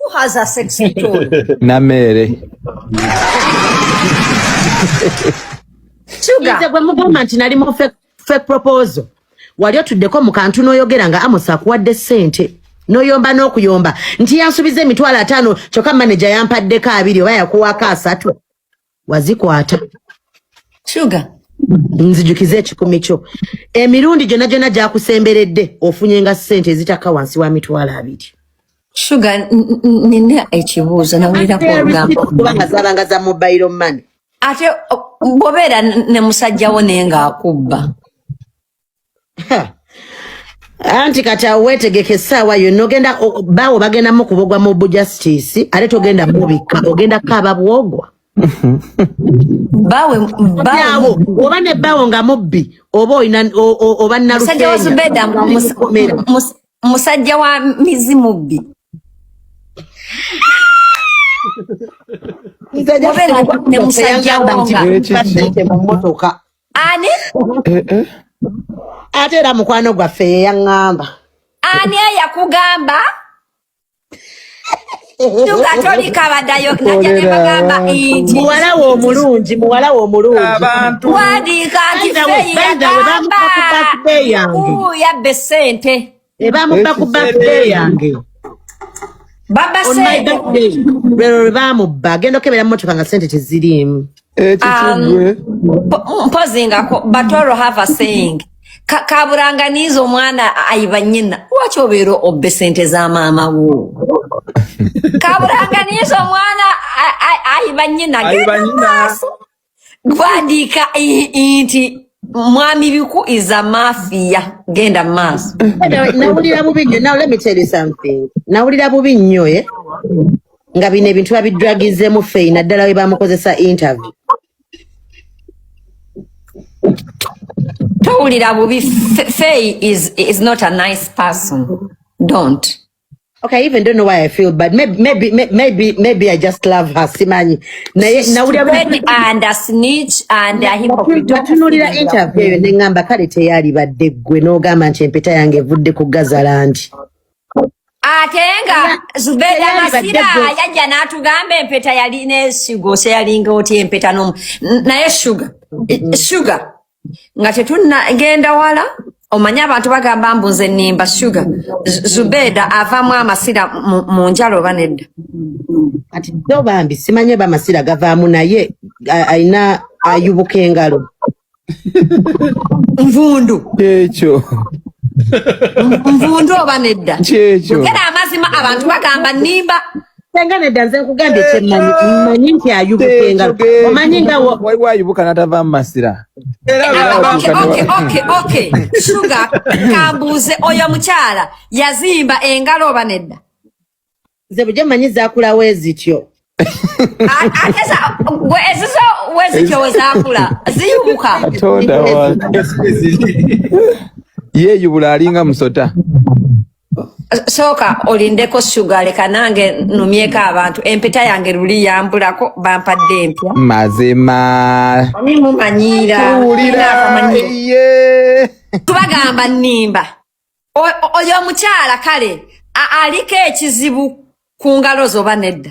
Who has a sexy tone? Namere. Sugar. Nze gwe mugamba nti nali mu fake, fake proposal. Wali otuddeko mu kantu n'oyogera nga Amos akuwadde ssente n'oyomba n'okuyomba nti yansubiza emitwalo ataano kyokka maneja yampaddeko abiri oba yakuwaako asatu. wazikwata sugar nzijukiza ekikumi kyo emirundi gyona gyona gyakusemberedde ofunye nga sente ezitakka wansi wa mitwalo abiri shuga nina ekibuuzo nawulirakuogambakubanga zabanga za mobile money ate bobeera ne musajjawo naye ngaakubba anti kati awo wetegeka essaawa yonna ogenda baawo bagenda mukubogwa mu bujasitiisi ate togenda mubikka ogenda kaaba bwogwa bawe bawo oba ne bawo nga mubbi oba oyina oba nalusajja wa zubeda musajja wa mizi mubbi musajja wa mumotoka ani eh, eh. ate era mukwano gwaffe yeyaŋŋamba ani eyakugamba tugatolika badayo najanebagamba nti muwala we omulungi muwala we omulungi wandiika nti feyeyagamba yabba esente Ebamubba ku birthday yange. Baba On my Sebo. birthday. Lero lwe bamubba. Agenda okebera mmotoka nga sente teziriimu. Eki Um, kigwe. po- mpozi nga ko- but all have a saying Ka- kaburanganiiza omwana ayiba nyina lwaki obeera obbe sente za maama wo kaburanganiiza omwana a- a- ayiba nyina Ayiba genda nyina. maaso gwandiika i- i- nti mwami biku is a mafia genda mu maaso Na- nawulira bubi nnyo now let me tell you something nawulira bubi nnyo eh? nga bino ebintu babidragizemu feyi naddala we bamukozesa interview towulira bubi Fe- fei is, is not a nice person don't Okay, I even don't know why I feel bad. Maybe, maybe, may- maybe, maybe I just love her. Simanyi. Naye, na uli abu. Spread and a snitch and a hypocrite. Don't feel Batunulira like you are interview eyo ne ngamba kale teyalibadde ggwe n'ogamba nti empeta yange evudde ku gazalangi. ate nga zubeda Teyalibadde masira ggwe. yajja n'atugamba empeta yalina esigo seyalinga otya empeta nomu N- naye shuga I- shuga nga tetuna ngenda wala omanyi abantu bagamba mbu nze nimba shuga zubeda avamu amasira mu njalo oba nedda kati do bambi simanyi oba amasira gavaamu naye alina ayubuka engalo nvundu ekyo nvundu oba nedda kyekyo era amazima abantu bagamba nimba senga nedda nze nkugambye kyemmanyi mmanyi nti ayubuka engalo omanyi nga waliwo ayubuka n'atava mu masira shuga kambuuze oyo mukyala yazimba engalo oba nedda nze bujo mmanyi zakulawo ezityo atesa gwe ezizo wezityo wezakula ziyubuka yeyubula alinga musota sooka olindeko sugar leka nange numyeko abantu empeta yange luli yambulako bampadde empya mazima ani mumanyiira tubagamba nimba oyo omukyala kale aliko ekizibu ku ngalo zoba nedda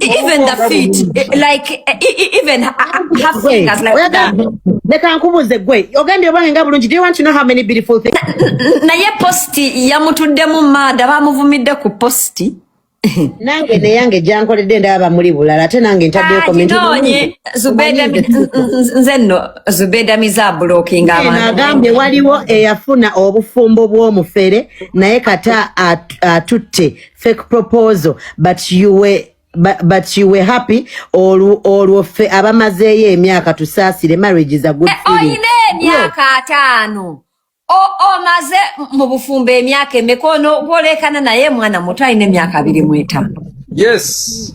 even the feet eh, like eh, e, e, even her fingers like that leka nkubuze gwe ogambye obwange nga bulungi do you want to know how many beautiful things naye post yamutuddemu maada bamuvumidde ku post nange neyange gyankoledde ndaba muli bulala ate nange ntaddeyokomentinonye nze nno zubeda mizabulokinga agambye waliwo eyafuna obufumbo bw'omufere naye kata atutte fake proposal but you were But, but you were happy olwo olwo ffe abamazeeyo emyaka tusaasire marriage is a good eh, feeling olina emyaka ataano omaze mu bufumbo emyaka emeka ono gwolekana naye mwana muto alina emyaka abiri mu etaano yes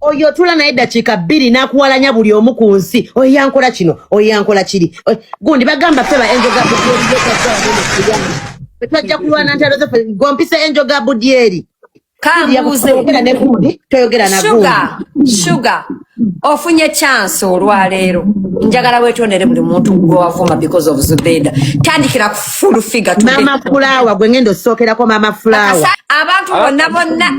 oyo otula naye eddakiika bbiri n'akuwalanya buli omu ku nsi oyo yankola kino oyo yankola kiri gundi bagamba ffe ba enjoga twajja kulwana ntalo zaffe gompisa enjoga budyeri kambuuzeera ne gundi toyogera na gundi shuga ofunye chance olwaleero njagala wetondere buli muntu gwewavuma because of zubeda tandikira full figure today. Mama Flower gwe ngendo sokerako Mama Flower. Abantu bonna bonna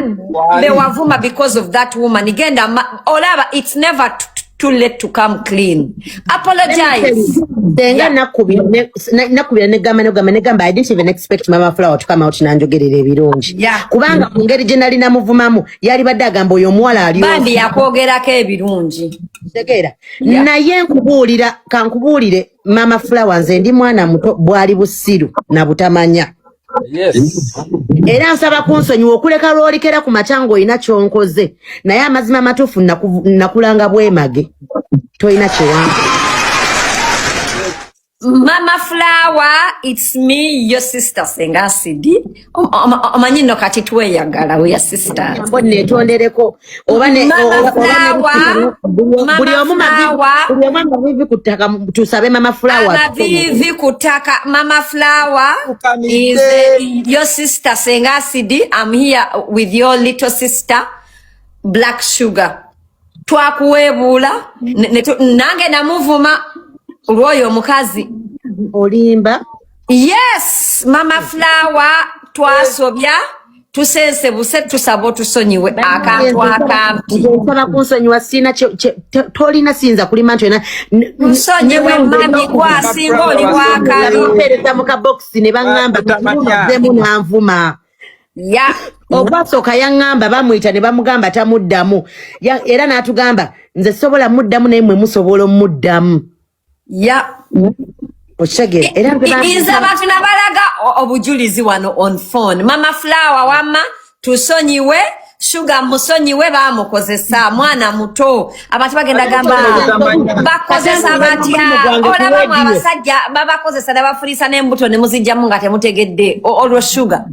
bewavuma because of that woman. Igenda olaba it's never too late to come clean. Apologize. Denga nakubira ne nakubira ne gamba ne gamba ne gamba I didn't even expect Mama Flower to come out na njogerera ebirungi. Yeah. Kubanga mu ngeri gye nali namuvumamu yali badde agamba oyo omuwala ali. Bandi yakwogerako ebirungi. Tegera. Yeah. Naye nkubuulira kankubuulire mama flower nze ndi mwana muto bwali busiru na butamanya yes era nsaba kunsonyiwa okuleka lwolikera ku makya ng'olina kyonkoze naye amazima amatuufu nakulanga bwemage tolina kiwange mama flower its me your sister senga sidi omanyi no kati tweyagala we sister mbo netondereko oba ne buli omu mavivi ku ttaka tusabe mama flower mavivi ku ttaka mama flower is your sister senga sidi i'm here with your little sister black sugar twakuweebuula nange namuvuma olwoyo omukazi olimba yes mama flower twasobya tusense buse tusaba otusonyiwe akantu akampitosaba kunsonyiwa sina tolina siyinza kulima nti olina nsonyiwe mami gwasinga oli wakalipereza mu kabokisi ne baŋŋamba tuzemu nanvuma ya okwasooka yaŋŋamba bamuyita ne bamugamba tamuddamu era n'atugamba nze sobola muddamu naye mwe musobola omuddamu ya okitegeera era nze abantu nabalaga obujulizi wano on phone mama flower wamma tusonyiwe shuga musonyiwe bamukozesa mwana muto abantu bagenda gamba bakozesa batya olabamu abasajja babakozesa nabafurisa nembuto nemuzijjamu nga temutegedde olwo shuga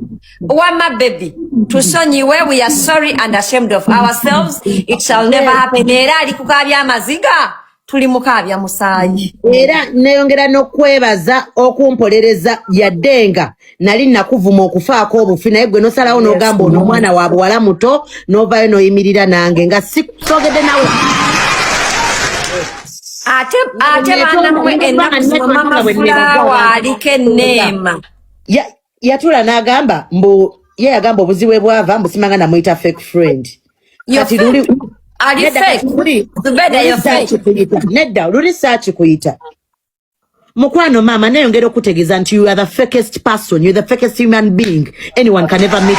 wama bebi tusonyiwe we are sorry and ashamed of ourselves it shall never happen era ali kukabya amaziga tuli mukaabya musaayi era neyongera n'okwebaza okumpolereza yadde nga nali nakuvuma okufaako obufi naye gwe nosalawo n'ogamba ono omwana wa buwala muto n'ovayo n'oyimirira nange nga sisogedde nawe ate ate banamwe ennaku zino mama fulawa aliko enneema yatula n'agamba mbu ye yagamba obuzibu ebwava mbu simanga namuyita fake friend kati luli nedda luli saaki kuyita mukwano maama neyongera okutegeeza nti you are the fakest person you are the fakest human being anyone can ever meet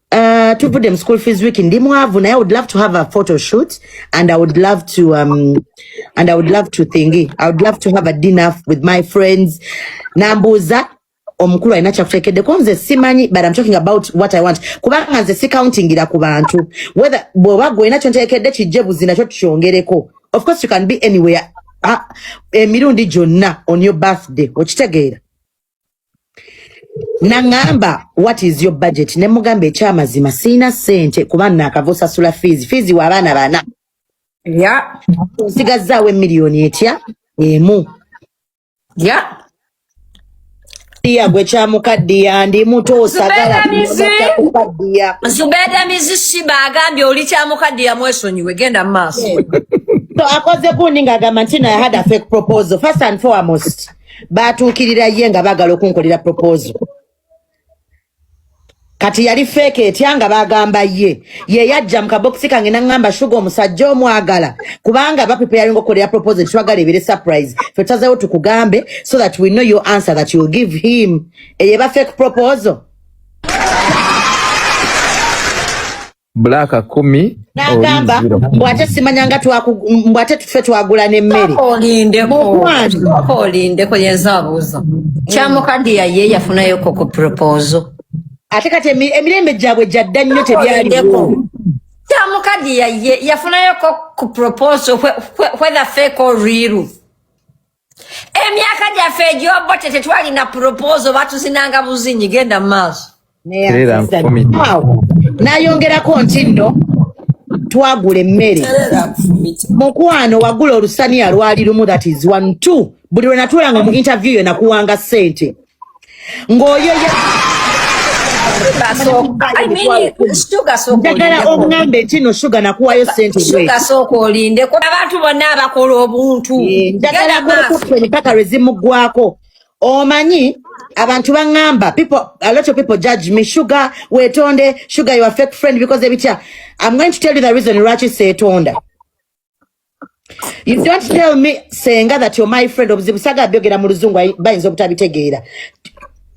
Uh, tuvudde mu school fees week ndi mwavu naye i would love to have a photo shoot and i would love to um, and i would love to thingy i would love to have a dinner with my friends nambuuza omukulu alina kyakuteekeddeko nze simanyi but am talking about what i want kubanga nze sikauntingira ku bantu whether bwoba gwe olina kyonteekedde kijje buzi nakyo tukyongereko of course you can be anywhere ah, emirundi gyonna on your birthday okitegeera nangamba what is your budget ne mugamba ekyamazima sirina sente kuba nakava osasula fees fees wa abaana bana ya nsigazzaawo emiliyoni etya emu ya iya gwe kyamukaddiya ndi muto osagala kukaddiya zubeda mizishiba agambye oli kyamukaddiya mwesonyiwe genda mu maaso so akoze gundi ng'agamba nti no i had a fake proposal first and foremost baatuukirira ye nga baagala okunkolera proposal kati yali feeke etya nga bagamba ye ye yajja mu kabokisi kange naŋŋamba shuga omusajja omwagala kubanga bapipeyalinga okukolera proposal twagala ebere surprise fe tutazewo tukugambe so that we know your answer that you give him eye ba fake proposal Black kumi nagamba mbu ate simanya nga mbu ate tufe twagula n'emmere olindeko yenza abuuza kyamukadiya ye yafunayo koko propozo ate kati emirembe gyabwe gyadda nnyo tebyaliwo kyamukadiya ye yafunayo ku propozo whether fake or real emyaka gyaffe egyobote tetwalina puropozo batuzinanga buzinyi genda mu maaso nayongerako nti nno twagula emmere mukwano wagula olusaniya lwali lumu that is one two buli lwenatuulanga mu interview yo nakuwanga sente ng'oyo ye njagala oŋŋambe nti no shuga nakuwayo sente shuga sooka olindeko abantu bonna abakola obuntu eh, njagala kulukutta empaka lwe zimuggwako omanyi abantu baŋŋamba a lot of people judge me shuga weetonde shuga your fake friend because ebitya i'm going to tell you the reason lwaki seetonda You don't tell me senga that you're my friend obuzibu saga byogera mu luzungu bayinza obutabitegeera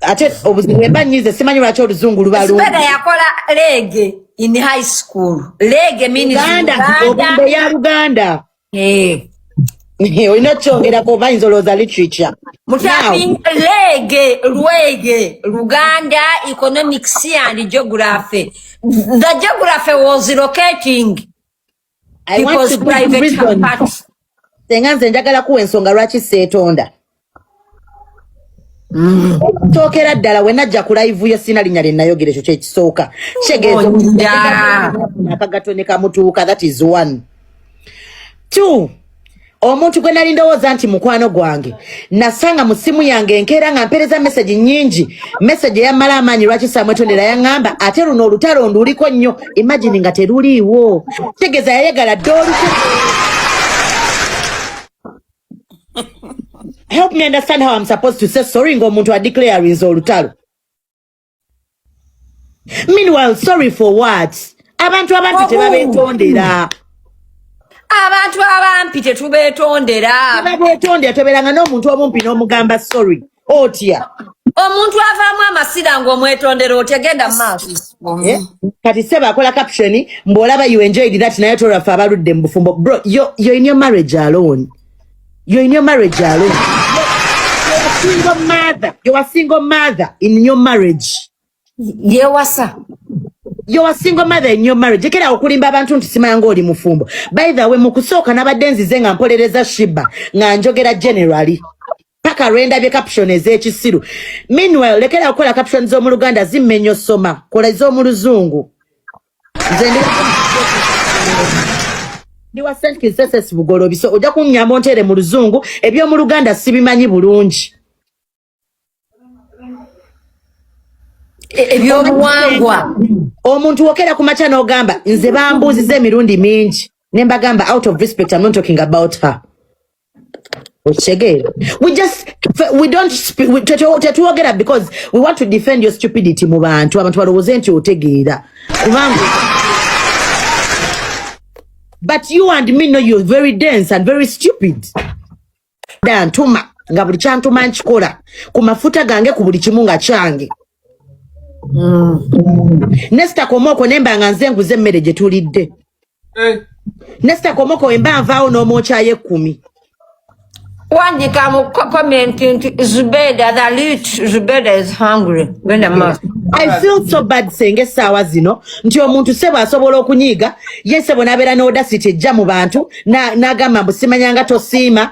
ate obuzibu wemba nyize simanyi lwaki oluzungu luba lungi Sibega yakola lege in high school lege means Uganda obumbe ya Uganda eh olina okyongerako bayinza olowooza literature lege lwege luganda economics and geography the geography was locating I want People's to give private reason. parts. senga nze njagala kuwa ensonga lwaki seetonda tookera ddala we najja ku live yo sirina linnya lye nayogera ekyo kyekisooka kitegeeza Oja. akagato ne kamutuuka that is one two omuntu gwe nali ndowooza nti mukwano gwange nasanga mu ssimu yange enkeera nga mpeereza mesegi nyingi mesegi eyammala amaanyi lwaki samwetondera yaŋŋamba ate luno olutalo nduliko nnyo imagini nga teruliiwo tegeeza yayagala dde oluku help me understand how am supposed to say sorry ng'omuntu adeclarinze olutalo meanwhile sorry for what abantu abampi tebabetondera abantu abampi tetubetondera tebabetondera toberanga n'omuntu omumpi n'omugamba sorry otya omuntu avaamu amasira ngaomwetondera otya genda maaso eh? kati sebe akola caption mbu olaba you enjoyed that naye tolwaffe abaludde mu bufumbo bro yo in your marriage alone You're in your marriage alone. You're a single mother. You're a single mother in your marriage. Yewasa. You're a single mother in your marriage. Ekera okulimba abantu nti simanga oli mufumbo. By the way, mu kusooka nabadde nzize nga mpolereza Shiba nga njogera generally. Paka renda bye caption ez'ekisiru. Meanwhile, lekera okukola caption z'omu Luganda zimmenyo soma. Kola z'omu Luzungu. nze ndi wa st kiseses bugolobi so ojja kunyamba ontere mu luzungu eby'omu luganda sibimanyi bulungi E- ebyobuwangwa omuntu wokera ku makya n'ogamba nze bambuuziza emirundi mingi ne mbagamba out of respect I'm not talking about her okitegeera we just we don't tetwogera because we want to defend your stupidity mu bantu abantu balowooze nti otegeera kubanga but you and me know you're very dense and very stupid dantuma nga buli kyantuma nkikola ku mafuta gange ku buli kimu nga kyange Mm. Nesta Komoko nemba nga nze nguze emmere gye tulidde. Eh. Nesta Komoko emba nvaawo n'omwokya y'ekkumi. Wandika mu comment nti Zubeda the loot Zubeda is hungry. Genda maaso. I feel so bad senge essaawa zino nti omuntu sebo asobola okunyiiga ye sebo n'abeera n'odasiti ejja mu bantu n'agamba mbu simanyanga tosiima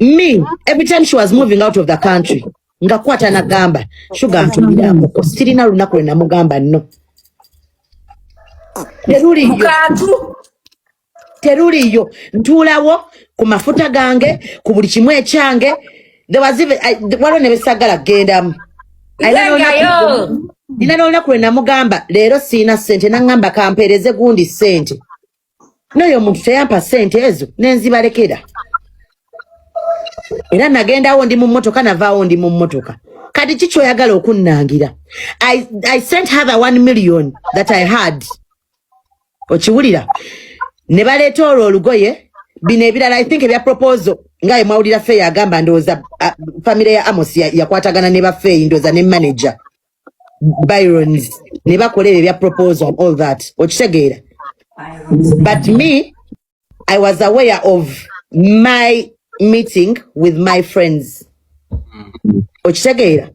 me every time she was moving out of the country nga kwata na gamba sugar ntumira muko sirina lunaku lwe namugamba no teruliyo teruliyo ntuulawo ku mafuta gange ku buli kimu ekyange waliwo ne besagala kugendamu nina nolunaku lwe namugamba leero sirina sente nangamba kampeereze gundi sente n'oyo omuntu teyampa ssente ezo nenzibalekera era nagendawo ndi mu mmotoka navaawo ndi mu mmotoka kati ki kyoyagala okunnangira I, i sent her the one million that i had okiwulira ne baleeta olwo olugoye bino ebirala i think ebya proposal ngaye mwawulira feeyi agamba ndowooza uh, famire ya amos yakwatagana ya ne bafeeyi ndowooza ne manager byrons ne bakola ebyo ebya proposal and all that okitegeera but me i was aware of my meeting with my friends okitegeera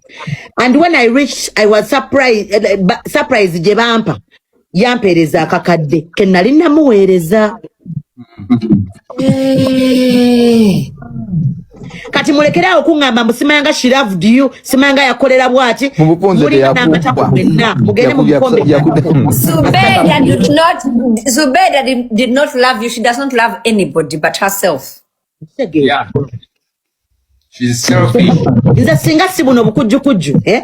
and when i reached i was surprised, eh, eh, ba- surprised gye bampa yampeereza akakadde ke nali namuweereza kati mulekere awo kuŋŋamba mbu simayanga shiraved you simayanga yakolera bwati mulinangatako mwenna mugende mu bukombe zubeda did not love you she does not love anybody but herself yeah. She's selfish. Nze singa si buno bukujjukujju eh?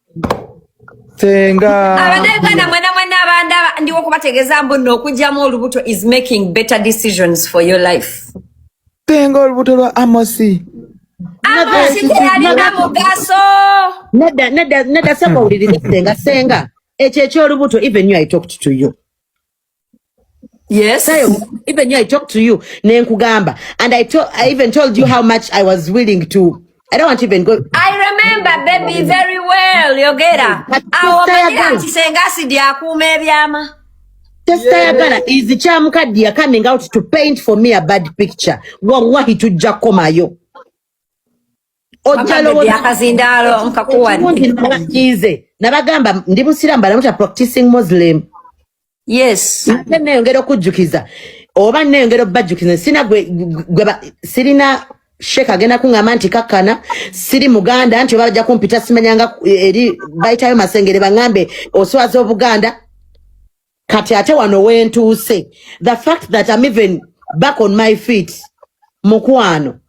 senga abadde uganda mwena mwena abandaba ndiwo okubategeeza mbu no okugyamu olubuto is making better decisions for your life senga olubuto lwa amosi amosi teyalina mugaso nedda nedda nedda saba owuliriza senga senga ekyo ekyolubuto even you i talked to you Yes. Sayo, even you, I talked to you, Nenkugamba, and I, to- I even told you how much I was willing to. I don't want to even go. I remember baby very well yogera But awo sister manyira Yagala. nti senga asidi akuuma ebyama Sister Yagala is the Chamukadiya coming out to paint for me a bad picture. Wallahi tujja komayo. ojjalowozize nabagamba ndi musiramu balamuta practicing muslim yes ate neyongera okujjukiza oba neyongera okubajjukiza sina gwe sirina sheeka agenda kuŋŋamba nti kakkana siri muganda nti oba bajja kumpita simanyanga eri bayitayo masengere baŋŋambe oswaza obuganda kati ate wano wentuuse the fact that am even back on my feet mukwano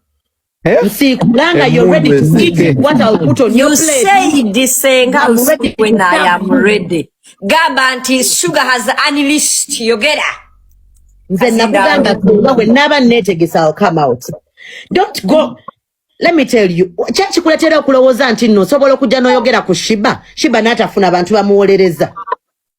Eh? nsiikulanga you're ready to eat what I'll put on your plate sayidisenga lusikwe naye amurede gamba nti sugar has unleashed yogera nze nakugamba kuba bwe naaba neetegesa I'll come out don't go let me tell you kyakikuletera okulowooza nti nno osobola okujja n'oyogera ku shiba shiba n'atafuna abantu bamuwolereza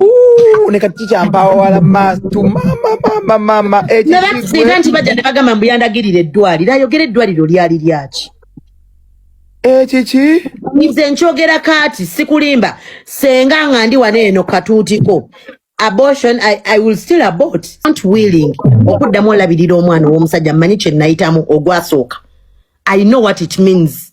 Ooh, nekakica mpawo wala mastu mama mama mama ekisiga nti bajja ne bagamba mbu yandagirira eddwaliro ayogera eddwaliro lyali lyaki ekiki nze nkyogera kaati sikulimba senga nga ndi wano eno katuutiko abortion I, I will still abort not willing okuddamu olabirira omwana ow'omusajja mmanyi kye nayitamu ogwasooka I know what it means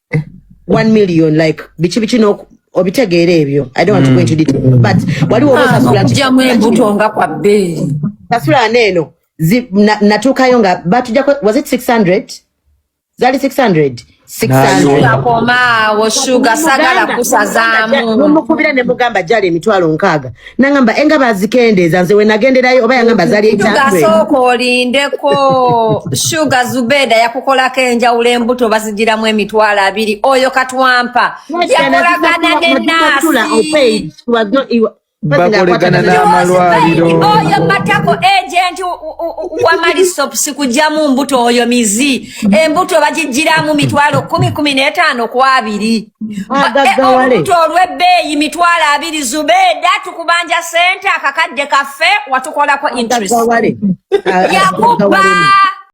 eh. one million like biki biki no obitegeera ebyo i don't want to go into detail mm. but waliwo ah, osasulakujjamu embuto nga kwa bbeeyi sasula neeno natuukayo nga batujako was it 600 zali 600 akomaawo shuga sagala kusazaamu nomukubira ne mugamba jali emitwalo nkaaga nangamba enga bazikendeeza nze wenagenderayo oba yangamba zali ekyasooka olindeko shuga zubeda yakukolako enjawulo embuto bazijiramu emitwalo abiri oyo katwampa yakolagana ne naasi bakolegana n'amalwaliro oyo matako agenti wamalisopsi kujamu mbuto oyo mizi embuto bagijjiramu mitwalo kumi kumi n'etaano ku abiri eh, olubuto olw'ebbeeyi mitwalo abiri zubeeda tukubanja sente akakadde kaffe watukolako interest yakubba